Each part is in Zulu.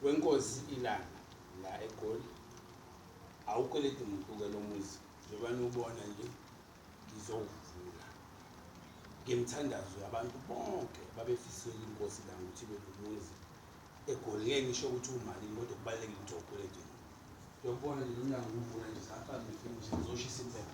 wenkosi ilanga la egoli awukweleti muntu ke lo muzi njengoba niwubona nje ngizowuvula ngemthandazo yabantu bonke babefisela inkosi la ukuthi ibe nomuzi egoli ngeke ngisho ukuthi umalini kodwa kubalulekile ukuthi awukweleti muntu uyakubona nje lomnyango uwuvula nje safaka nje ngizoshisa impela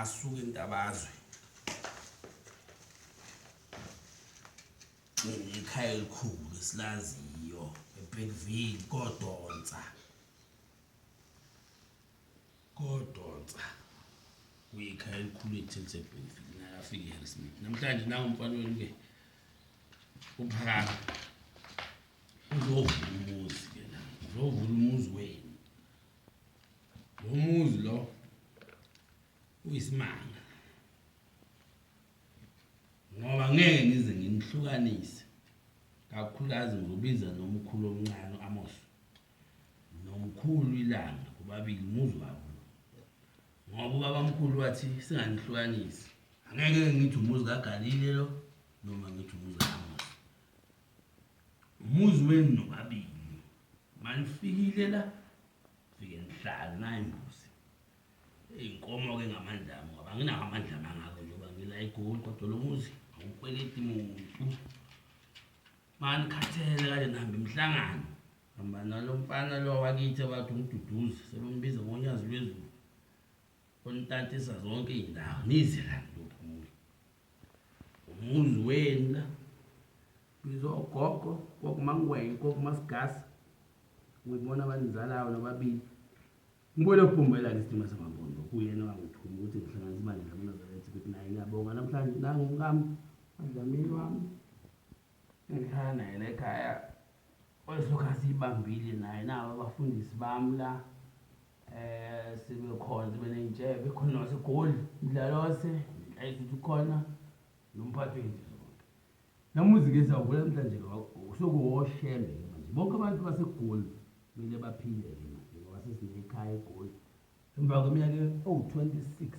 asuke intabazwe ikhaya elikhulu esilaziyo ebekville kodonsa kodonsa kuyikhaya elikhulu ethilisebekville nakafika eharrismith namhlanje nangumfana wenu-ke uphakama uzovula umuzi-ke la uzovula umuzi wenu Lo muzi lo uyisimanga. Ngoba ngeke ngize nginihlukanise kakhulukazi ngobiza nomkhulu omncane uAmos nomkhulu ilanga kubabili umuzi wabo. Ngoba ubabamkhulu wathi singanihlukanisi. Angeke ngithi umuzi kaGalile lo noma ngithi umuzi kaAmos. Umuzi wenu nobabili. Manifikile la fike nihlale nayo imbuzi iy'nkomo ke ngamandla ami ngoba anginawo amandla mangako njengoba ngila egoli kodwa lo muzi awukweleti muntu manikhathele kade nihambe imihlangano hamba nalo mfana lo wakithi abathi umduduzi sebembiza ngonyazi lwezulu onitantisa zonke iy'ndawo nize la ntophumule umuzi wena biza ogogo kokumangwenya kokumasigasi ngibona abanizalayo nababili ngibone ubhumbela ke isidima samambondo kuyena wangithuma ukuthi ngihlanganisa imali nami nazarethi ukuthi naye ngiyabonga namhlanje nangu mkami adlamini wami Ngihlala naye la ekhaya olihlokazi ibambile naye nabo abafundisi bami la eh sebekhona sebeney'ntshebe khona wasegoli mdlalose nhlayizuthi khona nomphathi wenje zonke namuzike sawuvula namhlanje sokuwoshembe ke manje bonke abantu basegoli kumele baphile-ke manje ngoba sesinekhaya egoli Emva kweminyaka ewu-26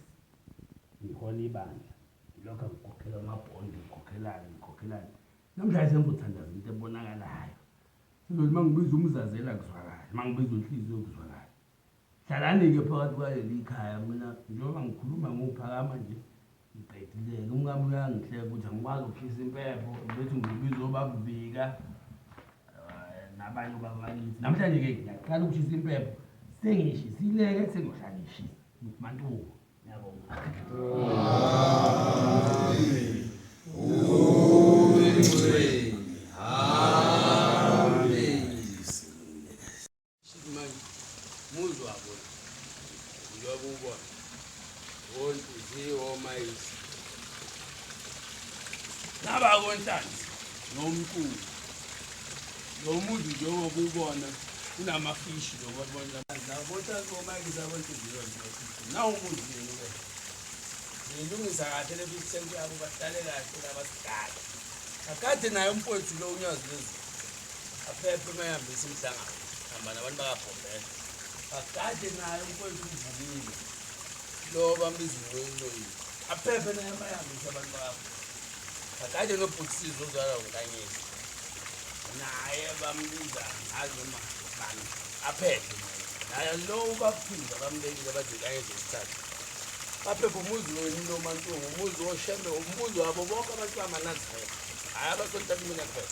ngihola ibandla, ngilokhu ngikhokhela amabhondi, ngikhokhelani, ngikhokhelani. Namhlanje sengikuthandaza into ebonakalayo. Sengizothi uma ngibiza umzazela kuzwakale, uma ngibiza unhliziyo kuzwakale. Hlalani-ke phakathi kwaleli khaya, mina njengoba ngikhuluma ngophakama nje, Ngiqedile-ke umkami uyangihleka ukuthi angikwazi ukukhisa impepho bethi ngibiza obabubika eh, nabanye ubaba bakithi namhlanje-ke ngiyaqala ukushisa impepho sengishisileke sengiyohlala ngishisa ngithi mantuku ngiyabonga Amen. nabakonhlanzi nomculo lo muzi njengoba ubona kunamafishi nawumuziwe ngiyilungisa kahle le fifty cent yabo bahlale kahle labasidala akade naye umfowethu lo unyazi lezulu aphephe uma ehambisa umhlangano hamba nabantu bakabhombela bagade naye umfowethu uvukile lo bambiza uncoyincoyile aphephe naye uma ehambisa abantu bakho bagade nobhutisizi ozwala unkanyisa naye bambiza ngazi noma bani aphephe naye lo ubaphinda bambekile bathi kanye zesithathu baphephe umuzi wenu lo mantungu umuzi woshembe umuzi wabo bonke abantu bamanazirela hhayi abasontabimina kuphela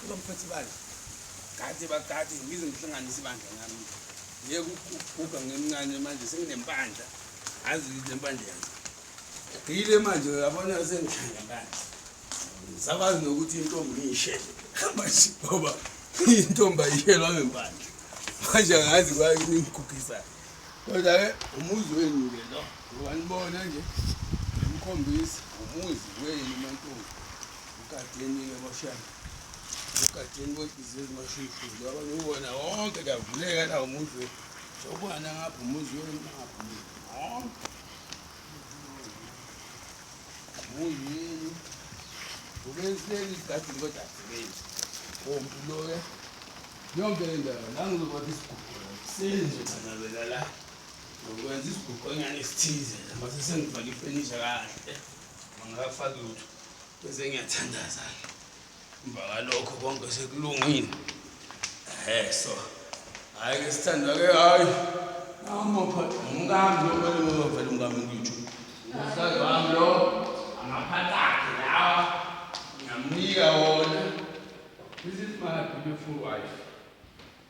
Cela mphathi bandla. Kade bakade ngize ngihlanganise ibandla ngami. Ngeke ukuguga ngimncane manje senginempandla. Azi lempandla yazi. Ngile manje uyabona sengihlanga manje. Sakwazi nokuthi intombi ngiyishele. Hamba nje baba. Intombi ayishelwa ngempandla. Manje angazi kwa ngikugisa. Kodwa ke umuzi wenu ke lo. Ngoba nibona nje. Ngikhombisa umuzi wenu mantombi. Ugadeni-ke boshana. Ugadeni kwedizwe ezimasho ikhulu. Ngoba ngiwona wonke kuyavuleka la umuzi wethu. Sokwana ngapha umuzi wenu ngapha umuzi. Wonke. Umuzi wenu. Ubenzeni igadeni kodwa asebenzi. Ompu loya. Yonke le ndawo la ngizokwakha isiguqo la. Senze kanabela la. Ngokwenza isiguqonyana esithize la. Mase sengifake ifenisha kahle. Ngingakafaki lutho. Bese ngiyathandaza-ke emva kalokho konke sekulungile ehe so hhayi ke sithandwa ke hhayi namaphathi umkami lokumele uyovela umkami ngitsho umhlali wami lo amaphathi akhe lawa ngamnika wona this is my beautiful wife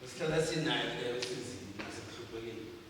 esihlala sinayo leyo sizini nasekuhluphekeni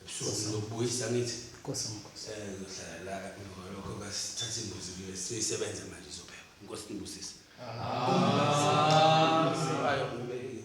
ebusuku sizokubuyisa ngithi nkosi nkosi eh ngizohlala la emva lokho kasithatha imbuzi kule sisebenza manje izophela inkosi nibusise ah ayo ngibekile